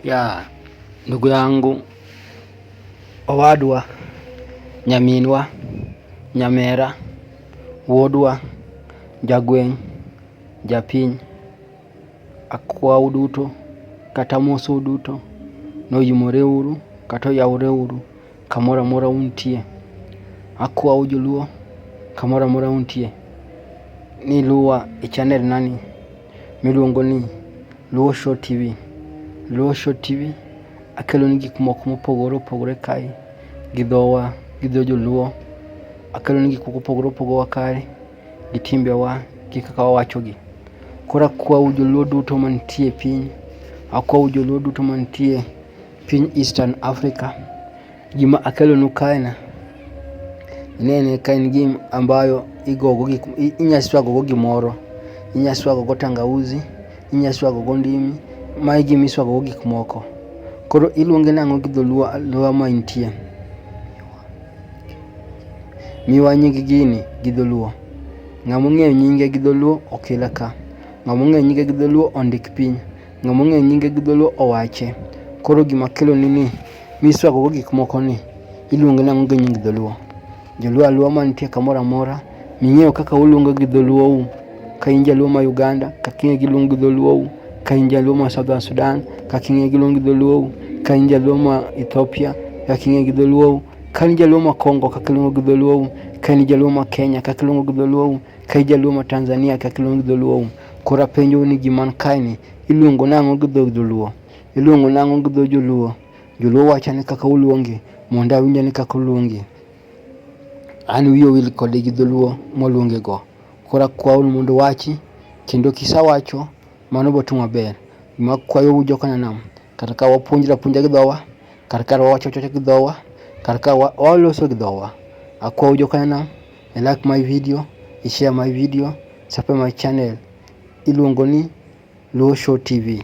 ya ndugu yangu Owadwa nyaminwa nyamera wuodwa jagweng' japiny akwau duto kata amosou duto ni oyimore uru kata oyawre uru kamoro amora untie. Akwau joluo kamoro amora untie ni iluwa e chanelnani miluongo ni. Luo Show TV. Luo Show TV akeloni gik moko mopogore opogore kae gi dhowa gi dho joluo. Akeloni gik moko opogore opogore kae gi timbewa gi kaka wawachogi. Koro akwau joluo duto mantie e piny, akwau joluo duto mantie piny Eastern Africa. Gima akelonu kaena inene ka en gim ambayo igogo inya swagogo gimoro, inya swagogo tangauzi, inya swagogo ndimi, mae gima iswagogo gik moko. Koro iluonge nang'o gi dholuo aluowa ma intie? Miwa nying gini gi dholuo. Ng'ama ong'eyo nyinge gi dholuo okila ka. Ng'ama ong'eyo nyinge gi dholuo ondik piny. Ng'ama ong'eyo nyinge gi dholuo owache. Koro gima akeloni ni. Miswagogo gik moko ni iluonge nang'o gi nying dholuo? Joluo aluo mantie kamoro amora ming'eyo kaka uluongo gi dholuou ka in jaluo ma Uganda kaka ing'e gi luong gi dholuou ka in jaluo ma Southern Sudan kaka ing'e gi luong gi dholuou ka in jaluo ma Ethiopia kaka ing'e gi dholuou ka in jaluo ma Congo kaka iluongo gi dholuou ka in jaluo ma Kenya kaka iluongo gi dholuou ka in jaluo ma Tanzania kaka iluongo gi dholuou. Koro apenjou ni gima nikaeni iluongo nang'o gi dho dholuo? Iluongo nang'o gi dho Joluo? Joluo wacho ni kaka uluongi, mondo awinjo ni kaka uluongi. An wiya owil kode gi dholuo moluonge go. Koro akwayo ni mondo uwachi, kendo kisawacho, mano biro timo maber. Gima akwayou joka Nyanam, kar ka wapuonjre apuonjra gi dhowa, kar ka wawacho awacha gi dhowa, kar ka waloso gi dhowa. Akwayou joka Nyanam, i like my video, i share my video, subscribe my channel. Iluongo ni Luo Show TV.